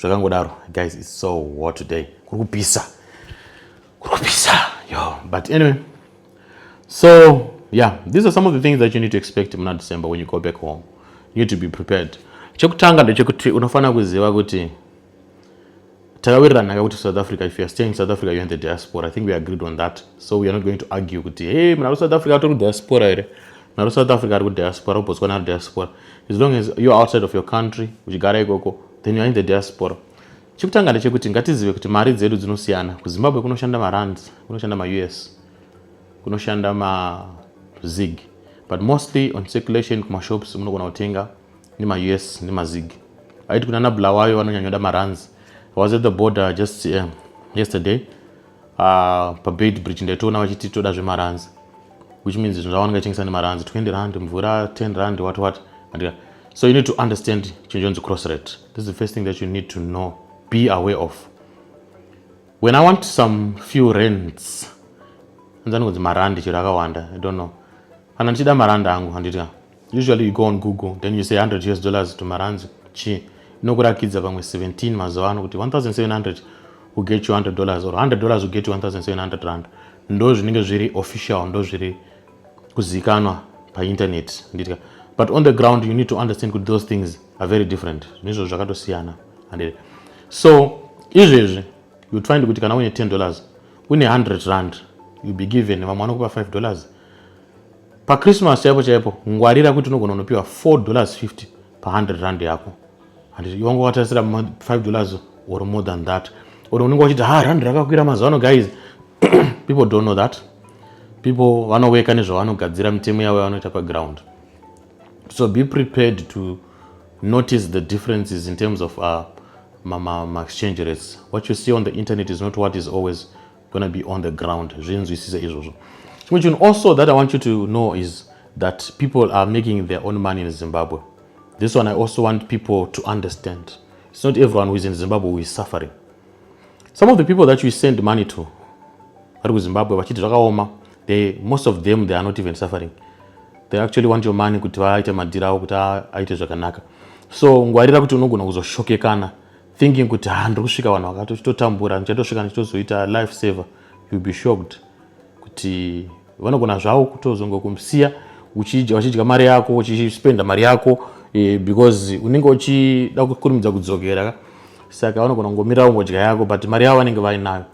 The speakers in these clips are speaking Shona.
zvakangodaro guys it's so hot today kuri kupisa kuri kupisa yo but anyway so yeah these are some of the things that you need to expect muna december when you go back home you need to be prepared chekutanga ndechekuti unofanira kuziva kuti takawirirana kakuti south africa if youare staying in south africa youare in the diaspora i think we agreed on that so weare not going to argue kuti hey muna kusouth africa tori kudiaspora here naro south africa ari kudiaspora ubotswana ari diaspora as long as you're outside of your country uchigara ikoko then you're in the diaspora chekutanga ndechekuti ngatizive kuti mari dzedu dzinosiyana kuzimbabwe kunoshanda marands kunoshanda maus kunoshanda mazig but mostly on circulation kumashops munogona kutenga nemaus nemazig aiti kuna nablawayo vanonyanyoda marands was at the border just um, yesterday uh, pabed bridge ndaitoona vachiti toda zvemaranzi which means zvinhu zvavanenge vachitengesa nemaranzi 20 rand mvura 10 rand what what andika so you need to understand chinhu chonzi cross rate this is the first thing that you need to know be aware of when i want some few rents anzani kunzi marandi chero akawanda i don't know kana ndichida marandi angu handitika Usually you go on Google then you say 100 US dollars to marands chi inokurakidza pamwe 17 mazuva ano kuti 1700 will get you 100 dollars or 100 dollars will get you 1700 rand ndo zvinenge zviri official ndo zviri kuzikanwa painternet nditya but on the ground you need to understand kuti those things are very different nezvo zvakatosiyana handire so izvezvi you find kuti kana uine 10 dollars une 100 rand you be given vamwe vanokupa 5 dollars pachristmas chaipo chaipo ngwarira kuti unogona unopiwa 4 dollars 50 pa 100 rand yako handiti iwanga watarisira 5 dollars or more than that or unenge wachiti ha rand rakakwira mazuva ano guys people don't know that people vanoweka nezvavanogadzira mitemo yavo yavanoita paground so be prepared to notice the differences in terms of uh, ma, ma, ma exchange rates what you see on the internet is not what is always gonna be on the ground zvinzwisise izvozvo chimwe chinhu also that i want you to know is that people are making their own money in zimbabwe this one i also want people to understand it's not everyone who is in zimbabwe who is suffering some of the people that you send money to vari kuzimbabwe vachiti zvakaoma they most of them they are not even suffering they actually want your money kuti vaite madhiri avo kuti aite zvakanaka so ngwarira kuti unogona kuzoshokekana thinking kuti ha ah, ndiri kusvika vanhu vakato chitotambura ndichatosvika ndichitozoita life saver youll be shocked kuti vanogona zvavo kutozongokumsiya vachidya mari yako uchispenda mari yako eh, because unenge uchida kukurumidza kudzokera ka saka vanogona kungomira ungodya yako but mari yavo vanenge vainayo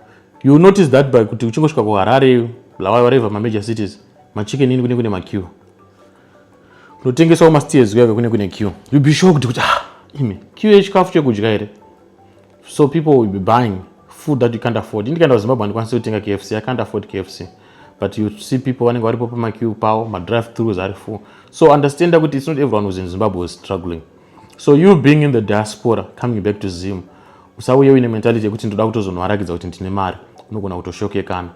you notice that by kuti uchingosvika kuharare lawai wareva mamajor cities machicken ini kune kune makiwa kunotengesawo masteers kuya kune kune q you be shocked kuti ah imi q yechikafu chekudya here so people will be buying food that you can't afford indikaenda kuzimbabwe handikwanisi kutenga kfc i can't afford kfc but you see people vanenge varipo pamacu pawo madrive throughs ari full so understanda kuti it's not everyone who's in zimbabwe was struggling so you being in the diaspora coming back to zim usauye uine mentality yekuti ndoda kutozonovarakidza kuti ndine mari unogona kutoshokekana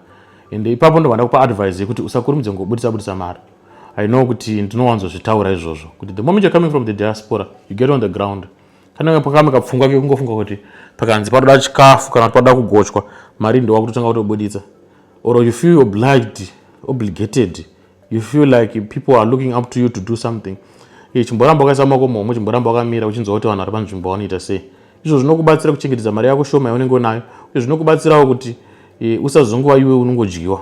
ende ipapo ndobva ndakupa advice yekuti usakurumidze ngobudisa budisa mari I know kuti ndinowanzo zvitaura izvozvo kuti the moment you're coming from the diaspora you get on the ground kana pakame kapfungwa kekungofunga kuti pakanzi panoda chikafu kana panoda kugochwa mari ndowa kutotanga kutobuditsa or you feel obliged obligated you feel like people are looking up to you to do something eh, chimboramba wakaisa mako momwe chimboramba wakamira uchinzwa kuti vanhu vari panzvimbo vanoita sei izvo zvinokubatsira kuchengetedza mari yako shoma yaunenge unayo uye zvinokubatsirawo kuti eh, usazongova iwe unongodyiwa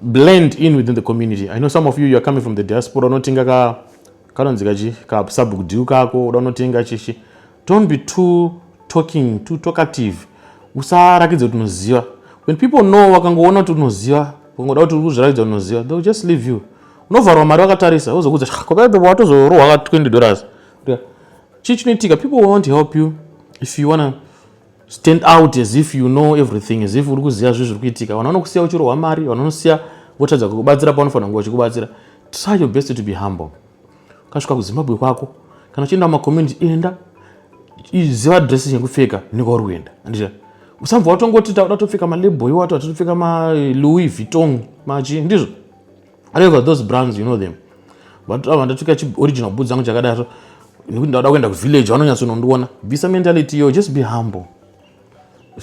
blend in within the community i know some of you you are coming from the diaspora unotenga ka kanonzi kachi ka sabhuku dhiu kako uda unotenga chichi don't be too talking too talkative usarakidze kuti unoziva when people know wakangoona kuti unoziva ukangoda kuti uri kuzviratidza unoziva they will just leave you unovharwa mari wakatarisa wozokudza watozorohwa ka 20 dollars chii chinoitika people won't help you if you wanna stand out as if you know everything as if uri kuziva zvinhu zviri kuitika vanhu vanokusiya uchirohwa mari vanhu vanosiya votadza kukubatsira paunofanira kunge vachikubatsira try your best to be humble ukasvika kuzimbabwe kwako kana uchienda kumacommunity enda iziva dress yekupfeka nekwauri kuenda andizva usambva watongoti tauda topfeka malebo iwato atatopfeka malouis vuitong machi ndizvo However, those brands, you know them. But ava ndatoka chi original boots zangu chakadaro nekuti ndauda kuenda kuvillage vanonyatsonondiona bvisa mentality yo just be humble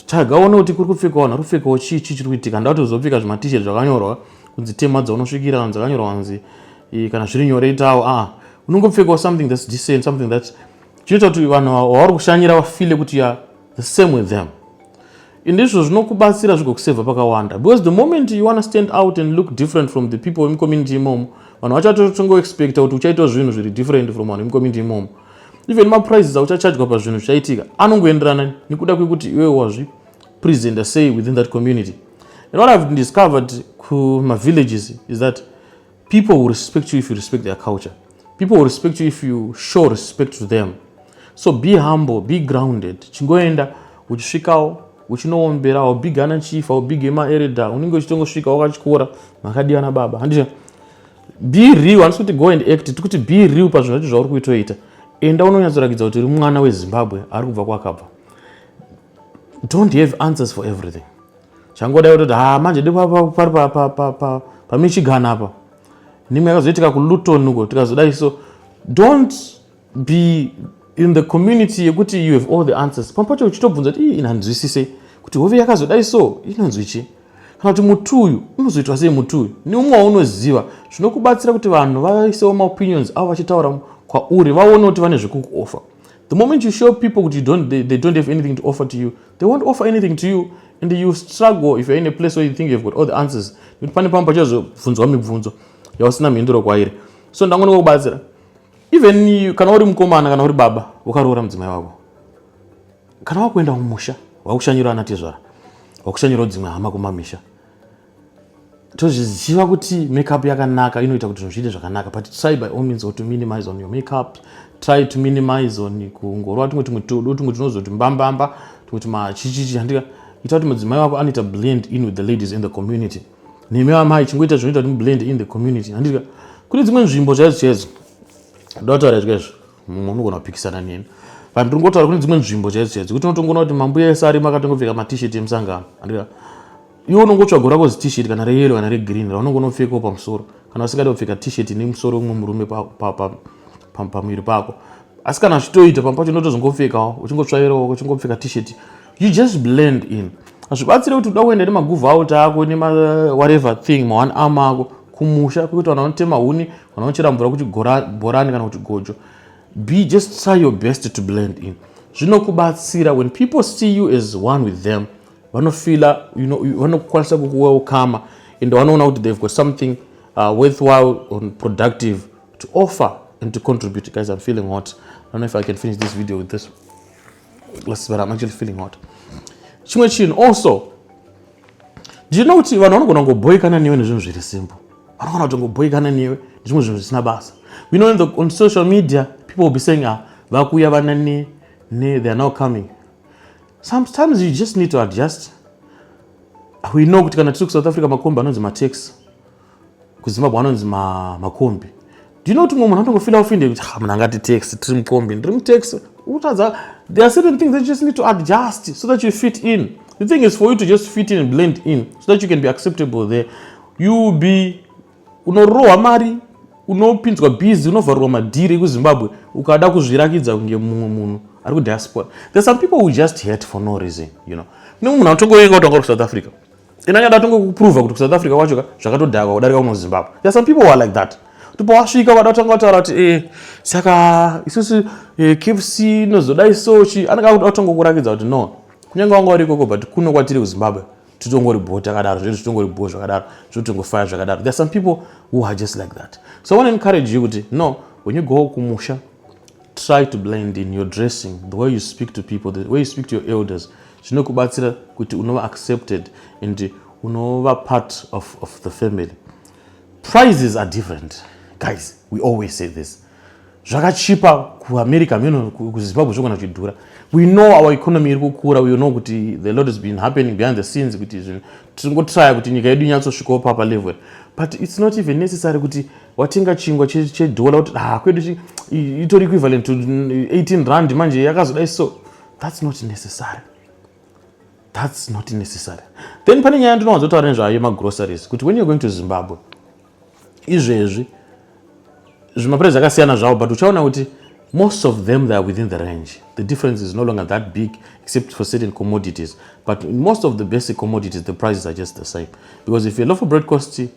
tsvaga one kuti kuri kupfeka vanhu ari kupfekawo chii chii chiri kuitika ndauti uzopfeka zvimatishet zvakanyorwa kunzi tema dzaunosvikira vanhu dzakanyorwa kunzi kana zviri nyore itawo aa unongopfekawo something thats decent something that chinoita kuti vanhu vavari kushanyira vafile kuti ya the same with them ndizvo zvinokubatsira zvigokusevha pakawanda because the moment you wanna stand out and look different from the people vemcommunity imomo vanhu vacho vatotongoexpecta kuti uchaitawo zvinhu zviri different from vanhu vemcommunity imomo even maprices auchachajwa pazvinhu zvichaitika anongoenderana nekuda kwekuti iwe wazvi presenter say within that community and what i've discovered kumavillages is that People will respect you if you respect their culture. People will respect you if you show respect to them. So be humble, be grounded. Chingoenda uchisvikawo uchinoombera wabiga ana chief wabiga maereda unenge uchitongosvika wakachikora makadiwa nababa handiti be real handisi kuti go and act tiri kuti be real pazvinhu zvacho zvauri kuitoita enda unonyatsorakidza kuti uri mwana wezimbabwe ari kubva kwakabva don't have answers for everything zvangodai kutoti ha ah, manje depari pamichigan apa nimwe yakazoitika kuluton uko tikazodai so don't be in the community yekuti you have all the answers pamwe pacho uchitobvunza kuti ii inanzwisise kuti hove yakazodai so inonzwi chii kana kuti muti uyu unozoitwa sei muti uyu neumwe waunoziva zvinokubatsira kuti vanhu vaisewo maopinions avo vachitaura kwauri vaone kuti vane zvekukuofa The moment you show people that you don't, they, they don't have anything to offer to you, they won't offer anything to you and you struggle if you're in a place where you think you've got all the answers. Nekuti pane pamwe pachazobvunzwa mibvunzo yausina mhinduro kwairi. So ndangona kubatsira. Even you, kana uri mukomana kana uri baba wakaroora mudzimai wako. Kana wakuenda kumusha wakushanyira ana tezvara. Wakushanyira dzimwe hama kumamisha. tozviziva kuti makeup yakanaka inoita kuti zvinhu zviite zvakanaka but try by all means to minimize on your makeup try to minimize on kungorova tumwe tumwe tudo tumwe tinozoti mbambamba tumwe tumachichichi handika ita kuti mudzimai wako anoita blend in with the ladies in the community nemi vamai chingoita zvinoita kuti mublend in the community handika kune dzimwe nzvimbo chaidzo chaidzo ndotaura izvo izvo mumwe unogona kupikisana neni vanhu tiri ngotaura kune dzimwe nzvimbo chaidzo chaidzo kuti unotongoona kuti mambuya ese arimo akatongopfeka matishet emusangano andika iwe unongotsvaga rako zitishet kana reyelo kana regreen raunongo unopfekawo pamusoro kana usingadi kupfeka tishet ine musoro umwe murume pamuviri pako asi kana zvitoita pamwe pacho unotozongopfekawo uchingotsvairawo uchingopfeka tishet you just blend in hazvibatsire kuti uda kuenda nemaguvhu out ako nemawhatever uh, thing maone am ako kumusha kwekuti vanhu vanotema huni vanhu vanochera mvura kuti bhorani kana kuti gojo be just try your best to blend in zvinokubatsira when people see you as one with them vanofila you know, vanokwanisa kukuwelcome and vanoona kuti they've got something uh, worthwhile and productive to offer and to contribute guys i'm feeling hot i don't know if i can finish this video with this Let's, but I'm actually feeling hot. Chimwe chinhu also do you know kuti vanhu vanogona kungoboikana newe nezvinhu zviri simple vanogona kutongoboikana newe nezvimwe zvinhu zvisina basa we know in the, on social media people will be saying ah vakuya vana ne, ne they are now coming sometimes you just need to adjust we know kuti kana tiri kusouth africa makombi anonzi matax kuzimbabwe anonzi makombi ma do you know kuti mumwe munhu anotongofila ofinde kuti ha munhu angati tax tiri mukombi ndiri mutax utadza there are certain things that you just need to adjust so that you fit in the thing is for you to just fit in and blend in so that you can be acceptable there you be unorohwa mari unopinzwa busy unovharurwa madhiri ekuzimbabwe ukada kuzvirakidza kunge mumwe munhu ari kudiaspora there some people who just hate for no reason you know kune munhu anotongouya kautanga uri kusouth africa ina nyada tonge kuprova kuti kusouth africa kwacho ka zvakatodhakwa kudarika kuno zimbabwe ya some people were like that kuti pawasvika vada kutanga kutaura kuti eh, saka isusu eh, kfc inozoda isochi anenge akuti atonga kurakidza kuti no kunyange wanga uri ikoko but kuno kwatiri kuzimbabwe titongori bho takadaro zvedu titongori bho zvakadaro zvotongofaya zvakadaro there are some people who are just like that so i want to encourage you kuti no when you go kumusha try to blend in your dressing the way you speak to people the way you speak to your elders zvinokubatsira kuti unova accepted and unova part of, of the family prices are different guys we always say this zvakachipa kuamerica meno kuzimbabwe zvogona zvichidhura we know our economy iri kukura we know kuti the lot has been happening behind the scenes kuti zvinhu tiringotraya kuti nyika yedu inyatsosvikawo papa level but it's not even necessary kuti watenga chingwa chedhola kuti ha ah, kwedu itori equivalent to 18 rand manje yakazodai so that's not necessary that's not necessary then pane nyaya ndinowanzotaura nezvayo yemagroceries kuti when you're going to zimbabwe izvezvi zvimaprice akasiyana zvavo but uchaona kuti most of them they are within the range the difference is no longer that big except for certain commodities but in most of the basic commodities the prices are just the same because if a loaf of bread costs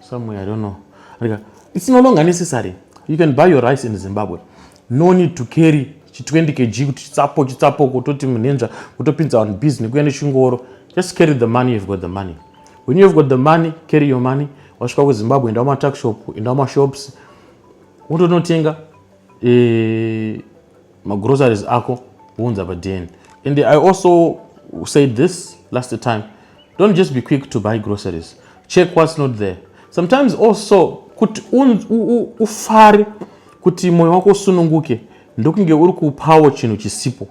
somewhere i don't know like it's no longer necessary you can buy your rice in zimbabwe no need to carry chi 20 kg kuti chitsapo chitsapo kutoti munhenza kutopinza vanhu busy nekuya nechingoro just carry the money you've got the money when you've got the money carry your money wasvika kuzimbabwe enda kumataxshop enda kumashops wotonotenga eh, magroceries ako wounza padn and i also said this last time don't just be quick to buy groceries check what's not there sometimes also kuti ufare kuti mwoyo wako usununguke ndokunge uri kupawo chinhu chisipo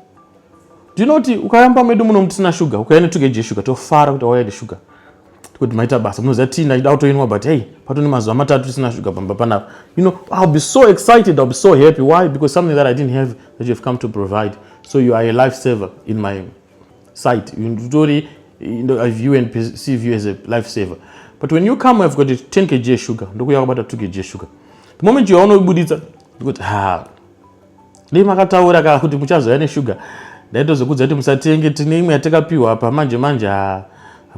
ndinoti ukayamba medu muno mutisina shuga ukayane tugeje shuga tofara kuti wauya neshuga kuti maita basa munoziva tii ndachida kutoinwa but hey patone mazuva matatu tisina shuga pamba panapa you know i'll be so excited i'll be so happy why because something that i didn't have that you have come to provide so you are a life saver in my sight nditori i view and perceive you as a life saver but when you come i've got 10 kg sugar ndokuya kwabata 2 kg sugar the moment you are unobuditsa ndikuti ha Dai makataura ka kuti muchazouya neshuga ndaitozokudza kuti musatenge tine imwe yatakapiwa apa manje manje haa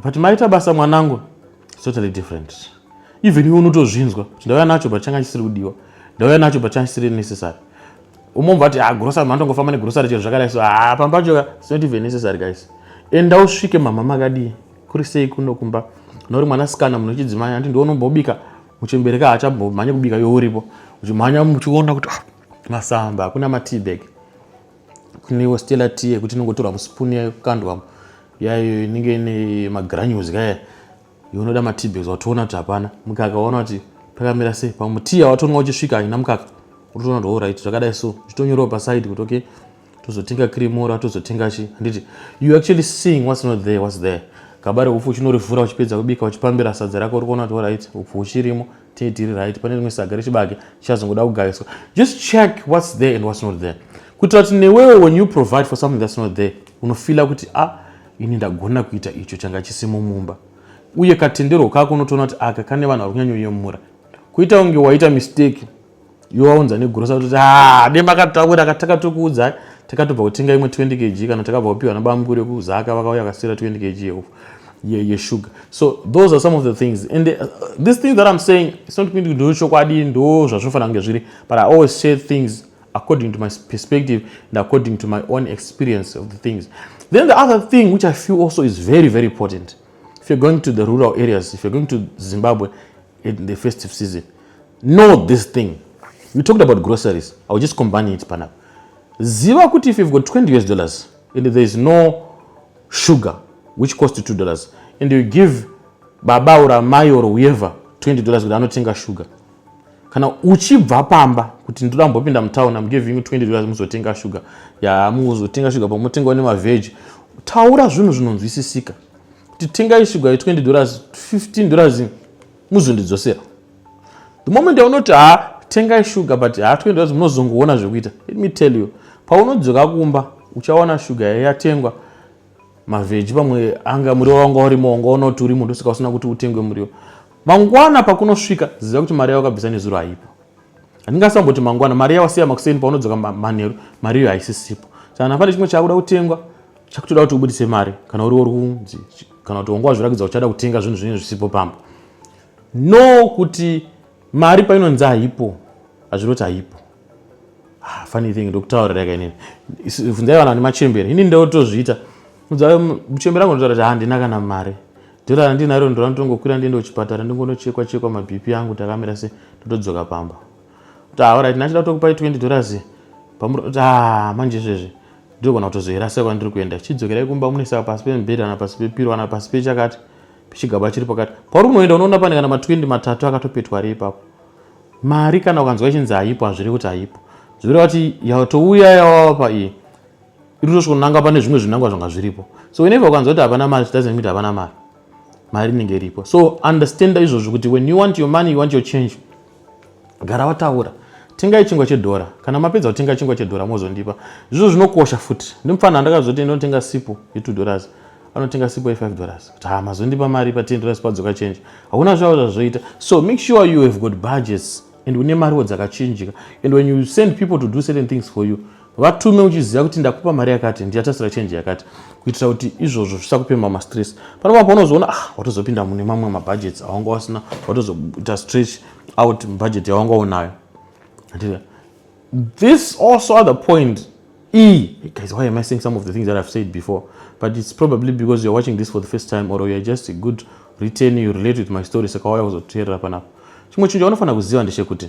but maita basa mwanangu totally different even iwe unotozvinzwa kuti ndauya nacho but changa chisiri kudiwa ndauya nacho but changa chisiri necessary umwe mubva ati ha ah, grocery manotongofamba negrocery chero zvakadai so haa ah, pamba pacho it's not even necessary guys enda usvike mama makadii kuri sei kuno kumba nori mwana sikana munhu wechidzimai andi ndiwo unombobika muchembereka haachambomhanye kubika yo uripo uchimhanya muchiona kuti ah, masamba hakuna matibag kunewo stela tea yekuti inongotorwa musipuni yakandwa yayo inenge ine magranules kaya yonoda matibag watoona kuti hapana mukaka waona kuti pakamira sei pamwe tea watonwa uchisvika haina mukaka unotoona kuti horit zvakadai so zvitonyorewo pasaidi kuti okay tozotenga kirimora tozotenga chi handiti you actually seeing what's not there what's there gaba reupfu uchinorivhura uchipedza kubika uchipambira sadza rako uri kuona kuti orit upfu uchirimo tee tiri right pane rimwe saga rechibage chichazongoda kugariswa just check what's there and what's not there kuitira kuti newewo when you provide for something that's not there unofila kuti a ah, ini ndagona kuita icho changa chisimo mumba uye katenderwo kako unotoona kuti aka kane vanhu vari kunyanyoyemura kuita kunge waita mistake iwe waunza negrosa kuti ah, dai makataura takatokuudzai takatobva kutenga imwe 20 kg kana takabva kupiwa nabamukuru yekuzaka vakauya vakasira 20 kg yeshuga so those are some of the things and uh, this thing that i'm saying it's not kuti ndo chokwadi ndo zvazvinofanira kunge zviri but i always share things according to my perspective and according to my own experience of the things then the other thing which i feel also is very very important if you're going to the rural areas if you're going to zimbabwe in the festive season know this thing you talked about groceries i will just combine it panapa ziva kuti if you've got 20 us dollars and there is no sugar which cost two dollars and you give baba or amai or whoever 20 dollars kuti anotenga sugar kana uchibva pamba kuti ndoda mbopinda mutown am giving you 20 dollars muzotenga sugar ya muzotenga sugar pamotengawo nemavheji taura zvinhu zvinonzwisisika kuti tengai sugar ye 20 dollars 15 dollars muzondidzosera the moment yaunoti ha tengai shuga but ha toenda kuti munozongoona zvekuita let me tell you paunodzoka kumba uchawana shuga yatengwa mavheji pamwe anga muriwo wanga urimo wanga unoti urimo ndosaka usina kuti utengwe muriwo mangwana pakunosvika ziva kuti mari yawakabvisa nezuro haipo handingasamboti mangwana mari yawasiya makuseni paunodzoka manheru mari iyo haisisipo saka nafane chimwe chakuda kutengwa chakutoda kuti ubudise mari kana uriwo runzi kana kuti wanga wazvirakidza uchada kutenga zvinhu zvinenge zvisipo pamba no kuti mari painonzi haipo hazviroti haipo ah, funny thing ndokutaurira yaka inini vunzai vanhu vane machembere ini ndotozviita muchembere angu ndotaura kuti handina kana mari dhora randinaro ndoranotongokwira ndiende kuchipatara ndingonochekwa chekwa mabp angu takamira se ndotodzoka pamba kuti ah, alright ndachida kutokupai 20 dollars pamuri kuti ah manje izvezvi ndinogona kutozoirasa kwandiri kuenda chidzokerai kumba munoisa pasi pemubhedha kana pasi pepiro kana pasi pechakati pechigaba chiri pakati pauri unoenda unoona pane kana ma20 matatu akatopetwa ari ipapo mari kana ukanzwa ichinzi haipo hazviri kuti haipo zvinoreva kuti yatouya yawava paiye iri kutosvikonanga pane zvimwe zvinangwa zvanga zviripo so whenever ukanzwa kuti hapana mari zvidoesnt kuti hapana mari mari inenge iripo so understanda izvozvo kuti when you want your money you want your change gara wataura tengai chingwa chedhora kana mapedza kutenga chingwa chedhora mozondipa zvizvo zvinokosha futi ndimufana andakazoti ndinotenga sipo ye2 dollars anotenga sipo ye5 dollars kuti ha mazondipa mari pa10 dollars padzoka change hakuna zvavo zvazvoita so make sure you have got budgets and une mariwo dzakachinjika and when you send people to do certain things for you vatume uchiziva kuti ndakupa mari yakati ndichatasira chenji yakati kuitira kuti izvozvo zvisakupema mastress panapa paunozoona ah watozopinda mune mamwe mabhajeti awanga wasina watozoita stretch out bhajeti yawanga unayo this also other point e guys why am i saying some of the things that i've said before but it's probably because you're watching this for the first time or you're just a good return you relate with my story saka waya kuzoteerera panapa chimwe chinhu chaunofanira kuziva ndechekuti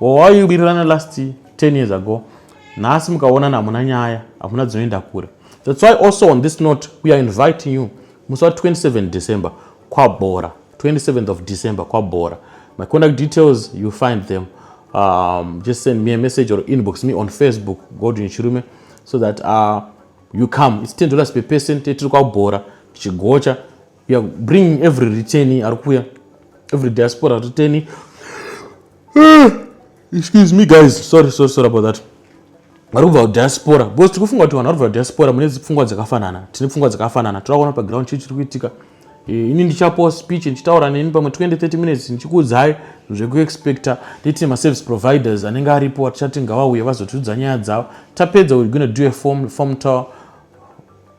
wawainwirirana last 10 years ago nhasi mukaonana hamuna nyaya hamuna dzinoenda kure thats why also on this note we are inviting you musi wa 27 december kwabhora 27th of december kwabhora my contact details you find them um, just send me a message or inbox me on facebook godwin chirume so that uh, you come its 10 dollars per person tiri kwabhora tichigocha we are bringing every retaining ari kuya every diaspora retaining Eh, excuse me guys sorry sorry sorry about that vari kubva kudiaspora because tiri kufunga kuti vanhu vari kubva kudiaspora mune dzipfungwa dzakafanana tine pfungwa dzakafanana toda kuona paground chii chiri kuitika eh, ini ndichapo speech ndichitaura neni pamwe 2030 minutes ndichikuudzai zvekuexpecta nditine maservice providers anenge aripo atichati ngavauye vazotiudza nyaya dzavo tapedza we're gonna do a form, form tour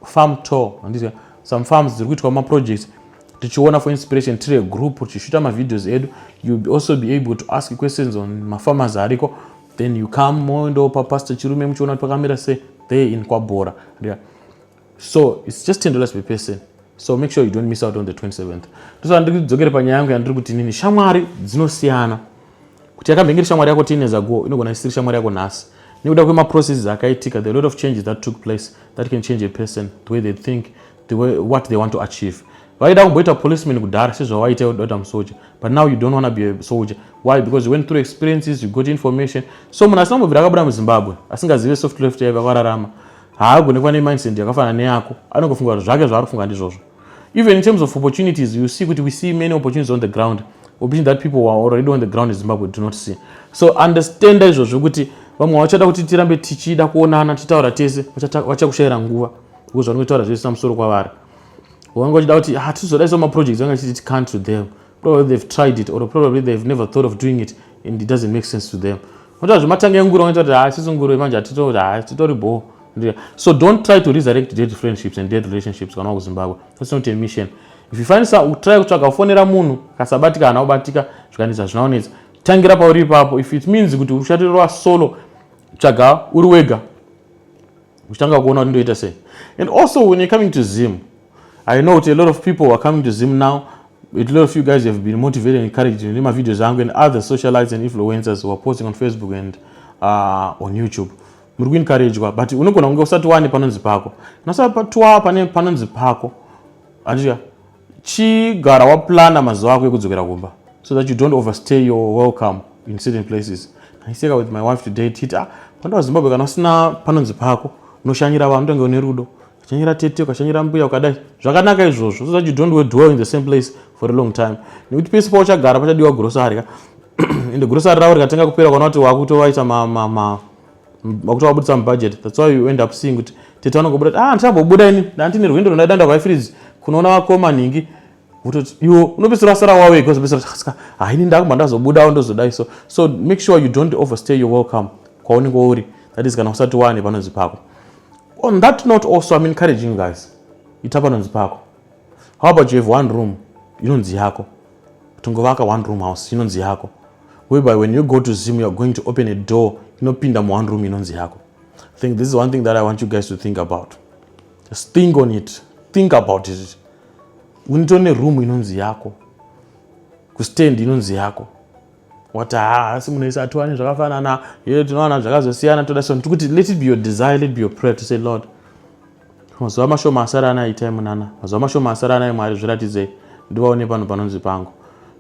farm tour handiti some farms dziri kuitwa maprojects tichiona for inspiration tiri agroup tichishuta mavideos edu you be also be able to ask questions on mafarmers ariko then you come moendo papastor chirume muchiona kuti pakamira se there in kwabhora yeah. so its just ten dollars per person so make sure you don't miss out on the 27th ndosaka ndiri kudzokere panyaya yangu yandiri kuti nini shamwari dzinosiyana kuti yakamhengeri shamwari yako teeners ago inogona isiri shamwari yako nhasi nekuda kwemaprocesses akaitika the lot of changes that took place that can change a person the way they think the way what they want to achieve vaida kumboita policeman kudhara sezvavaita udota musoja but now you don't wanna be a soldier why because you went through experiences you got information so munhu asina kumbobvira akabuda muzimbabwe asingazive soft left yaiva vararama haagone kuva nemindset yakafanana neyako anongofunga kuti zvake zvaari kufunga ndizvozvo Even in terms of opportunities, you see, we see many opportunities on the ground, opportunities that people who are already on the ground in Zimbabwe do not see. So understand izvozvo kuti vamwe vachada kuti tirambe tichida kuonana tichitaura tese vachakushayira nguva because vanenge taura zvese samusoro kwavari vange vachida kuti hatizoda ah, iso maprojects vange vachiti it can't to them probably they've tried it or probably they've never thought of doing it and it doesn't make sense to them vanotaura zvematanga enguru vanoita kuti ha ah, sisi nguru manje hatitotori bhoo Ndiye. so don't try to resurrect dead friendships and dead relationships kana wakuzimbabwe that's not a mission if you find some try kutsvaga kufonera munhu kasabatika kana ubatika zvikanetsa zvinaonetsa tangira pauri ipapo if it means kuti ushatirwa solo tsvaga uri wega uchitanga kuona kuti ndoita sei and also when you're coming to zim i know kuti a lot of people are coming to zim now a lot of you guys have been motivated and encouraged in my videos and other socialites and influencers who are posting on facebook and uh, on youtube muri kuinkarejwa but unogona kunge usati wane panonzi pako nasapatwa pane panonzi pako anditya chigara waplana mazuva ako ekudzokera kumba so that you don't overstay your welcome in certain places aiseka with my wife today tita ah, pandawa zimbabwe kana usina panonzi pako unoshanyira vanhu tonge une rudo ukashanyira tete ukashanyira mbuya ukadai zvakanaka izvozvo so that you don't dwell in the same place for a long time nekuti pese pauchagara pachadiwa gurosari ka ende gurosari ravo rikatanga kupera kana kuti wakutovaita wakuti wabudisa mubudget thats why you end up seeing kuti tete vanongobuda ah ndichambobuda ini ndandine rwendo rundaida ndavaifirizi kunoona vakoma nhingi vototi iwo unopedzisira asara wawe because pedzisira ska haini ndakumba ndazobudawo ndozodai so so make sure you don't overstay your welcome kwaunenge uri that is kana usati wane panonzi pako On that note also I'm encouraging you guys. Ita panonzi pako. How about you have one room inonzi yako. Tongovaka one room house inonzi yako. Whereby when you go to Zim you are going to open a door inopinda mu one room inonzi yako. I think this is one thing that I want you guys to think about. Just think on it. Think about it. Unitone room inonzi yako. Kustand inonzi yako. wati haa asi munhu ese atiwane zvakafanana ye tinowana zvakazosiyana toda so ndikuti let it be your desire let be your prayer to say lord mazuva mashoma asara ana itai munana mazuva mashoma asara anai mwari zviratidzei ndivaone panhu panonzi pangu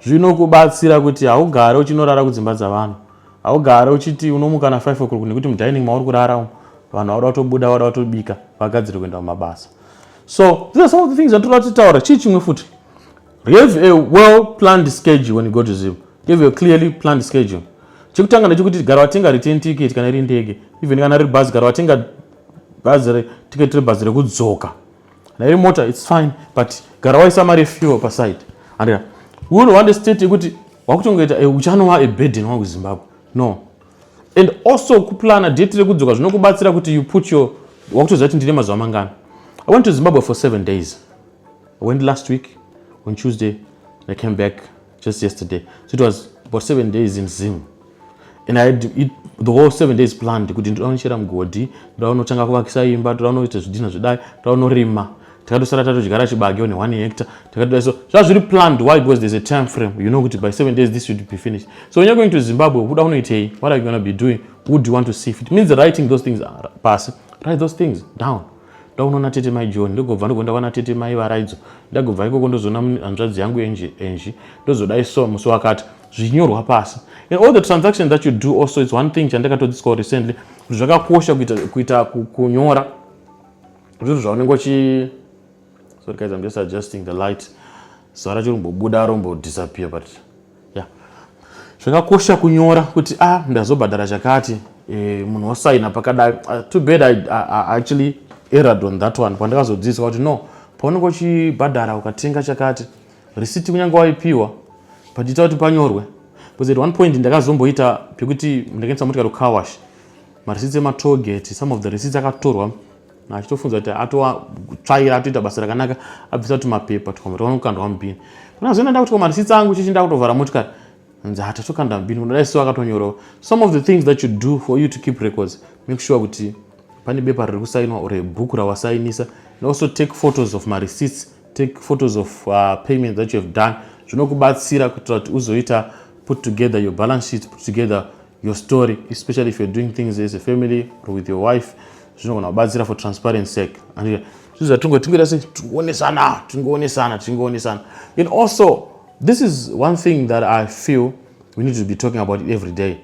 zvinokubatsira kuti haugare uchinorara kudzimba dzavanhu haugare uchiti unomuka na 5 o'clock nekuti mudining mauri kurara umu vanhu vauda kutobuda vauda kutobika vagadziri kuenda kumabasa so these are some of the things atoda kutitaura chii chimwe futi You have a well planned schedule when you go to Zim. You have a clearly planned schedule. Chekutanga ndechekuti gara watenga return ticket kana iri ndege. Even kana iri bhazi gara watenga bhazi re ticket re bhazi rekudzoka. Kana iri mota it's fine but gara waisa mari fuel pa side. Andira. Uno wande state yekuti wakutongoita eh, uchanova a burden wangu Zimbabwe. No. And also kuplana date rekudzoka zvinokubatsira kuti you put your wakutoziva kuti ndine mazuva mangana. I went to Zimbabwe for seven days. I went last week on Tuesday I came back just yesterday so it was about seven days in Zim and I had it, the whole seven days planned kuti ndoda kunochera mugodhi ndoda kunotanga kuvakisa imba ndoda kunoita zvidhina zvedai ndoda kunorima takatosara tatodyara chibage one one hector takatoda so zvaa zviri planned why because there's a time frame you know kuti by seven days this should be finished so when you're going to zimbabwe kuda unoitei what are you gonna be doing who do you want to see if it means writing those things pasi write those things down ndaunoona tete mai john ndogobva ndogonda kwana tete mai varaidzo ndagobva ikoko ndozoona hanzvadzi yangu enji enji ndozoda iso musi wakati zvinyorwa pasi and all the transactions that you do also is one thing chandakatodzidziswa recently kuti zvakakosha kuita, kuita kunyora zvinhu zvaunenge uchi sorry guys i'm just adjusting the light zara chiri kumbobuda rombodisappear but Yeah. Zvakakosha kunyora kuti ah ndazobhadhara chakati eh, munhu osaina pakadai. Uh, too bad I, I, I actually erred on that one pandakazodzidziswa kuti no paunenge uchibhadhara ukatenga chakati risiti kunyange waipiwa but ita kuti panyorwe because at one point ndakazomboita pekuti ndakaendesa motikari kukawash marisiti ematoll gate some of the receipts akatorwa achitofunza kuti atoatsvaira atoita basa rakanaka abvisa kuti mapepa tukwama twaona kukandwa mubhini kuna zve nda kuti kwama risitsa angu chichi nda kutovhara motikari nzi hata tokanda mubhini kudai so akatonyorawo some of the things that you do for you to keep records make sure kuti pane bepa riri kusainwa or bhuku rawasainisa and also take photos of mareceipts take photos of uh, payment that you have done zvinokubatsira kuitira kuti uzoita put together your balance sheet put together your story especially if you're doing things as a family or with your wife zvinogona kubatsira for transparent sake andizvo zvatingotingoita se tingoonesana tingoonesana tingoonesana and also this is one thing that i feel we need to be talking about it every day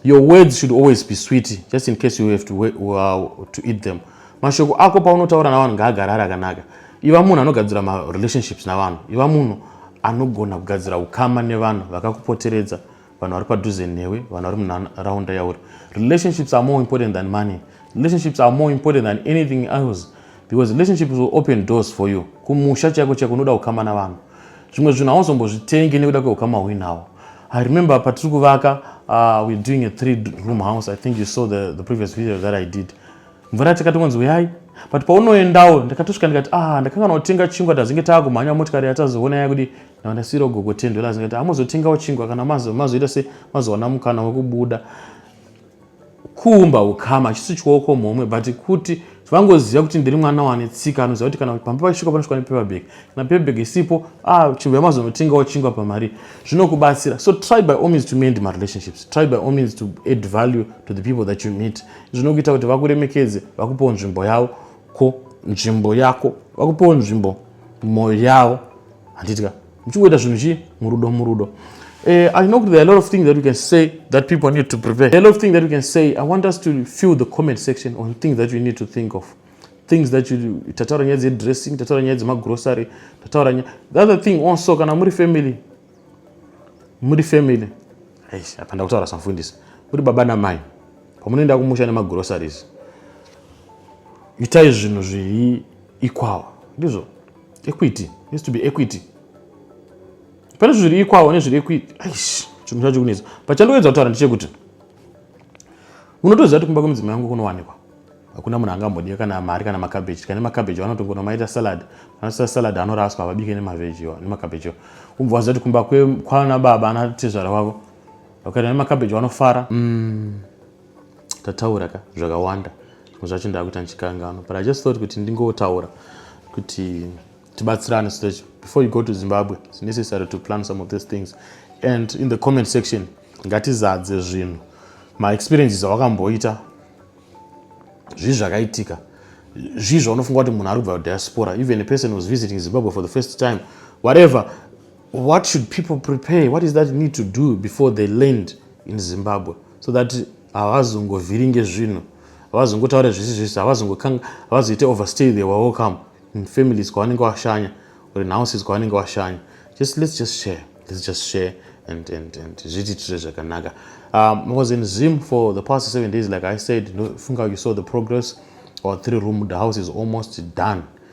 your words should always be sweet just in case you have to, uh, to eat them mashoko ako paunotaura navanhu ngaagara ari akanaka iva munhu anogadzira marelationships navanhu iva munhu anogona kugadzira ukama nevanhu vakakupoteredza vanhu vari padhuze newe vanhu vari munharaunda yauri relationships are more important than money relationships are more important than anything else because relationships will open doors for you kumusha chaiko chaiko unoda kukama navanhu zvimwe zvinhu hauzombozvitenge nekuda kweukama hwinhawo i remember patiri kuvaka uh, we're doing a three room house i think you saw the, the previous video that i did mvura takatongonzi uyai but paunoendawo ndakatosvika ndikati ah ndakanga naotenga chingwa tazinge taakumhanya motikari yatazoona yaya kudi Now ndasiyirawo gogo 10 dollars ngati hamuzotengawo chingwa kana mazoita se mazowana mukana wekubuda kuumba ukama chisi chioko mhomwe but kuti vangoziva kuti ndiri mwana wane tsika anoziva kuti kana pamba pachisvika panosvika nepaperbag kana perbag isipo ah, chibva mazonotengawo chingwa pamari zvinokubatsira so try by all means to mend marelationships try by all means to add value to the people that you meet zvinokuita kuti vakuremekedze vakupewo nzvimbo yavo ko nzvimbo yako vakupewo nzvimbo mwoyo yavo handiti ka muchingoita zvinhu chii murudo murudo Uh, I know there are a lot of things that we can say that people need to prepare. There are a lot of things that we can say. I want us to fill the comment section on things that you need to think of. Things that you tataura nyaya dzedressing, tataura nyaya dzemagrocery, tataura nyaya. The other thing also kana muri family. Muri family. Eish, apa ndakutaura samfundisi. Muri baba namai. Pamunoenda kumusha nemagroceries. Itai zvinhu zviri ikwawa. Ndizvo. equity has to be equity pane zvinhu zviri ikwawo nezviri equity aish chinhu chacho kunetsa pachandoedza kutaura ndichekuti unotoziva kuti kumba kwemudzimai yangu kunowanikwa hakuna munhu angambodya kana mari kana makabeji tikane makabeji vanotongono maita salad vanoita salad anoraswa havabike nemavejiwa nemakabejiwa ubva waziva kuti kumba kwana baba anatezvara wavo vakaita nemakabeji vanofara mm. tataura ka zvakawanda zvacho ndakuita ndichikangano but i just thought kuti ndingotaura kuti tibatsirane so that before you go to zimbabwe it's necessary to plan some of these things and in the comment section ngatizadze zvinhu maexperiences awakamboita zvii zvakaitika zvii zvaunofunga kuti munhu ari kubva kudiaspora even a person was visiting zimbabwe for the first time whatever What should people prepare? What is that need to do before they land in Zimbabwe so that havazongovhiringe zvinhu havazongotaure zvisi zvisi havazoite overstay they were welcome in families kwavanenge washanya or in houses kwavanenge washanya just let's just share let's just share and, and, and zvitiitire zvakanaka um, i was in zim for the past seven days like i said funga you saw the progress our three room the house is almost done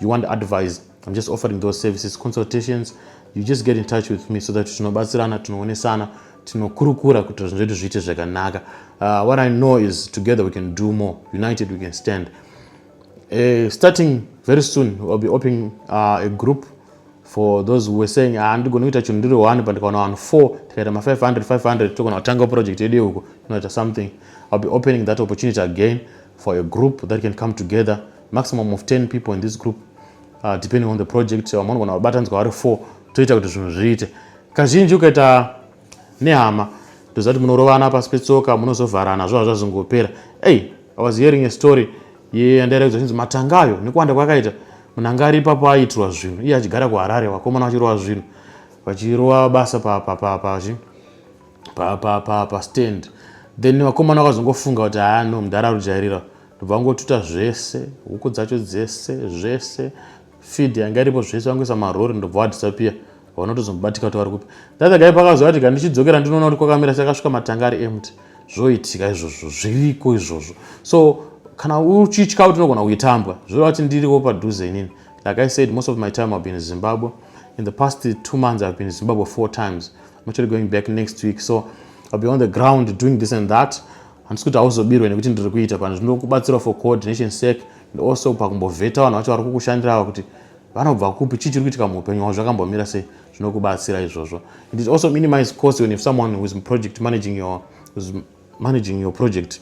you want advice i'm just offering those services consultations you just get in touch with me so that tinobatsirana tinoonesana tinokurukura kuti zvinhu zvedu zviite zvakanaka uh, what i know is together we can do more united we can stand uh, starting very soon ill be opening uh, a group for those who were saying ah, ndigona kuita chinhu ndiri one but ndikaona vanhu four tikaita ma500 500 togona kutanga project yedu yeuko tinoita something ill be opening that opportunity again for a group that can come together maximum of 10 people in this group uh, depending on the project vamwe vanogona vabatanzwa vari 4 toita kuti zvinhu zviite kazhinji ukaita nehama ndoziva kuti munorovana pasi petsoka munozovharana zvova zvazongopera ey i was hearing a story yandairakidza chinzi matanga ayo nekuwanda kwakaita munanga ari ipapo aiitirwa zvinhu iye achigara kuharare vakomana vachirova zvinhu vachirova basa papapapachi papapapastand then vakomana vakazongofunga kuti haa no mudhara rujairira ndobva vangotuta zvese huku dzacho dzese zvese feed yanga iripo zvese vangoisa marori ndobva vadhisapiya vanotozomubatika kuti vari kupi that guy pakazoya kuti kandichidzokera ndinoona kuti kwakamira sakasvika matanga ari empty zvoitika izvozvo zviriko izvozvo so kana uchitya kuti unogona kuitambwa zvoreva kuti ndiriwo padhuze inini like i said most of my time i've been in zimbabwe in the past two months i've been in zimbabwe four times i'm actually going back next week so i'll be on the ground doing this and that handisi kuti hauzobirwe nekuti ndiri kuita pano zvinokubatsira for coordination sec and also pakumbovheta vanhu vacho vari kukushandira ava kuti vanobva kupi chii chiri kuitika muupenyu hwavo zvakambomira sei zvinokubatsira izvozvo it is also minimize cost when if someone who is project managing your, is managing your project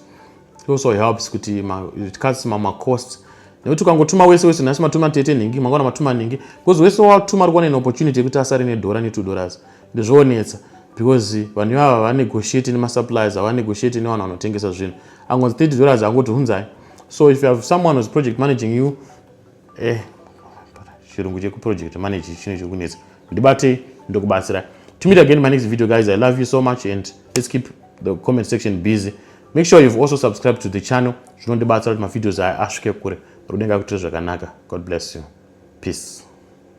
it also helps kuti it cuts mama costs nekuti ukangotuma wese wese nhasi matuma tete nhingi mangwana matuma nhingi because wese watuma ari kuwana an opportunity yekuti asare nedhora ne two dollars Ndozvoonetsa because vanhu ivava vanegotiate nemasuppliers havanegotiate nevanhu vanotengesa zvinhu angonzi 30 dollars angoti hunzai so if you have someone was project managing you eh chirungu chekuproject manage chino chiri kunetsa ndibatei ndokubatsirai to meet again my next video guys i love you so much and let's keep the comment section busy make sure you've also subscribed to the channel zvinondibatsira kuti mavideos aya asvike kure rudenga kuitira zvakanaka god bless you peace